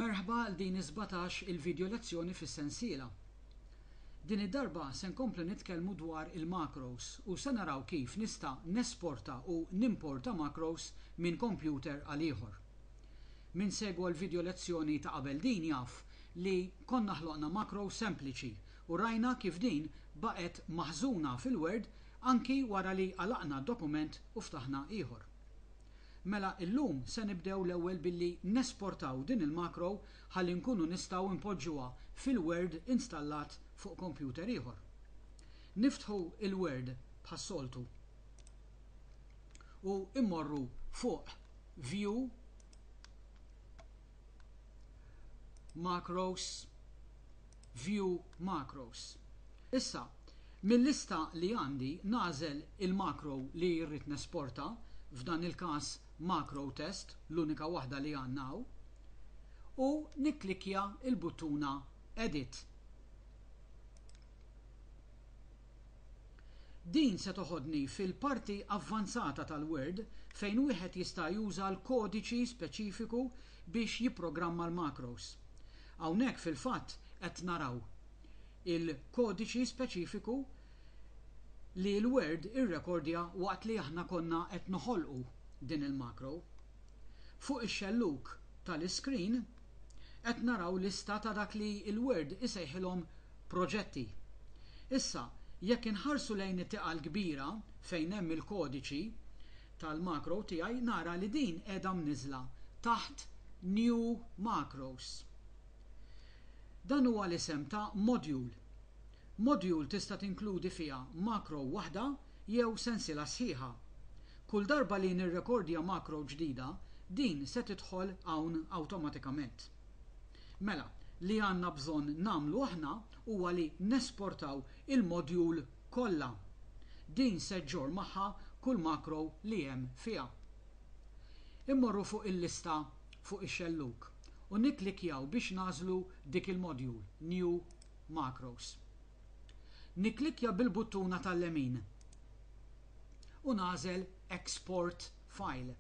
Merħba għal din is-sbatax il video lezzjoni fis-sensiela. Din id-darba se nkomplu nitkellmu dwar il-macros u se naraw kif nista' nesporta u nimporta macros minn kompjuter għal ieħor. Min segwa l-video lezzjoni ta' qabel din jaf li konna ħloqna macro sempliċi u rajna kif din baqgħet maħżuna fil-Word anki wara li għalaqna dokument u ftaħna ieħor. Mela illum se nibdew l-ewwel billi nesportaw din il-macro ħalli nkunu nistgħu npoġġuha fil-Word installat fuq computer ieħor. Niftħu il-Word bħas-soltu u immorru fuq View, Macros, View Macros. Issa, mil-lista li għandi nagħżel il-macro li rrid nesporta, f'dan il-każ Macro Test, l-unika waħda li għandna hawn, u nikklikkja l-buttuna Edit. Din se toħodni fil-parti avvanzata tal-Word fejn wieħed jista' juża l-kodiċi speċifiku biex jipprogramma l-macros. Hawnhekk fil-fatt qed naraw il-kodiċi speċifiku li l-Word irrekordja waqt li aħna konna qed noħolqu din il-macro. Fuq ix-xellug tal-iskrin qed naraw lista ta' dak li l-Word isejħilhom proġetti. Issa, jekk inħarsu lejn it-tieqa l-kbira fejn hemm il-kodiċi, tal-macro tiegħi nara li din qiegħda mniżżla taħt New Macros. Dan huwa l-isem ta' module. Module tista' tinkludi fiha macro waħda jew sensiela sħiħa. Kull darba li nirrekordja macro ġdida, din se tidħol hawn awtomatikament. Mela, li għandna bżonn nagħmlu aħna huwa li nesportaw il-module kollha. Din se ġġorr magħha kull makro li hemm fiha. Immorru fuq il-lista fuq ix-xellug u nikklikkjaw biex nagħżlu dik il-module, New Macros. Nikklikkja bil-buttuna tal-lemin u nagħżel Export File.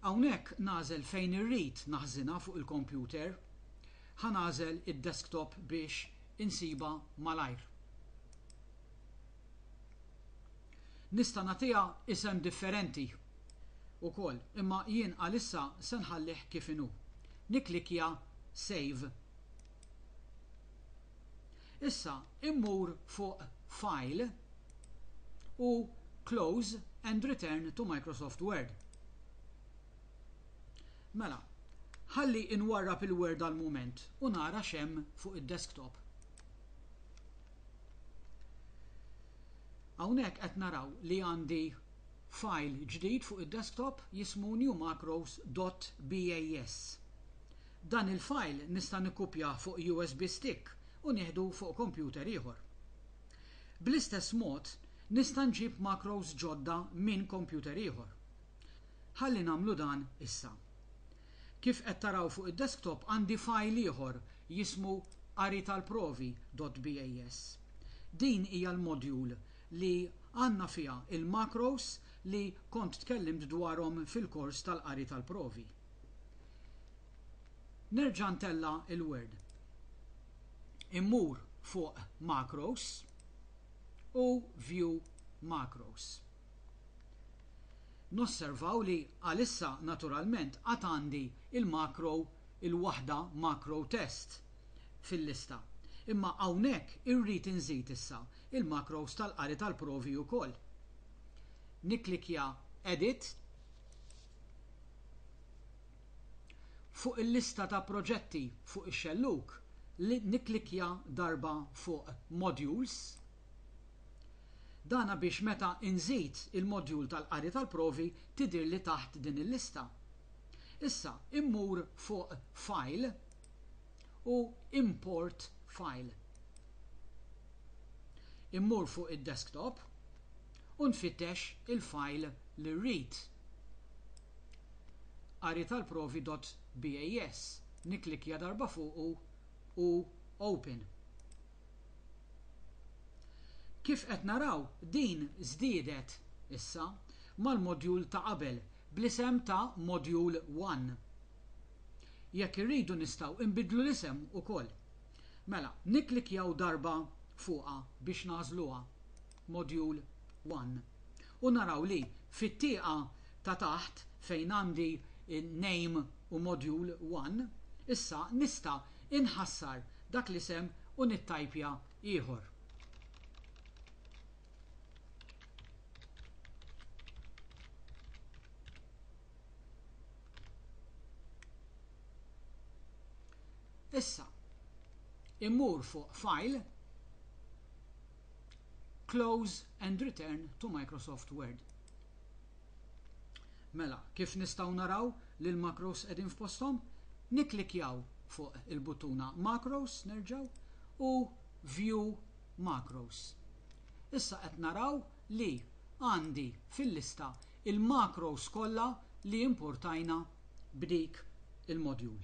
Hawnhekk nagħżel fejn irrid naħżinha fuq il-kompjuter. Ħa nagħżel id-desktop biex insibha malajr. Nista' nagħtiha isem differenti wkoll, imma jien għalissa se nħallih kif inhu. Nikklikkja Save. Issa immur fuq File u Close and Return to Microsoft Word. Mela, ħalli inwarrab il-Word għal mument u nara x'hemm fuq id-desktop. Hawnhekk qed naraw li għandi fajl ġdid fuq id-desktop jismu newmacros.bas. Dan il-fajl nista' nikkupjah fuq USB stick u nieħdu fuq kompjuter ieħor. Bl-istess mod, nista' nġib macros ġodda minn kompjuter ieħor. Ħalli nagħmlu dan issa. Kif qed taraw fuq id-desktop għandi fajl ieħor jismu qaritalprovi.bas. Din hija l-module li għandna fiha l-macros li kont tkellimt dwarhom fil-kors tal-qari tal-provi. Nerġa' ntella' il-Word. Immur fuq Macros u View Macros. Nosservaw li għalissa naturalment għad għandi l-macro, il-waħda macro test, fil-lista. Imma hawnhekk irrid inżid issa l-macros tal-qari tal-provi wkoll. Nikklikkja Edit Fuq il-lista ta' proġetti fuq ix-xellug, nikklikkja darba fuq Modules, Dan għabiex meta inżid il-modjul tal-qari tal-provi tidhirli taħt din il-lista. Issa immur fuq File u Import File. Immur fuq id-desktop u nfittex il-file li rrid. Qaritalprovi.bas. Nikklikkja darba fuqu u Open. Kif qed naraw, din żdiedet issa mal-modjul ta' qabel bl-isem ta' Module One. Jekk irridu nistgħu inbiddlu l-isem ukoll. Mela, nikklikkjaw darba fuqha biex nagħżluha. Module 1 u naraw li fit-tieqa ta' taħt fejn għandi Name u Module 1, issa nista' inħassar dak l-isem u nittajpja ieħor. Issa, immur fuq File, Close and return to Microsoft Word. Mela, kif nistgħu naraw li l-macros qegħdin f'posthom? Nikklikjaw fuq il-buttuna Macros nerġgħu u View Macros. Issa qed naraw li għandi fil-lista il-macros kollha li importajna b'dik il-module.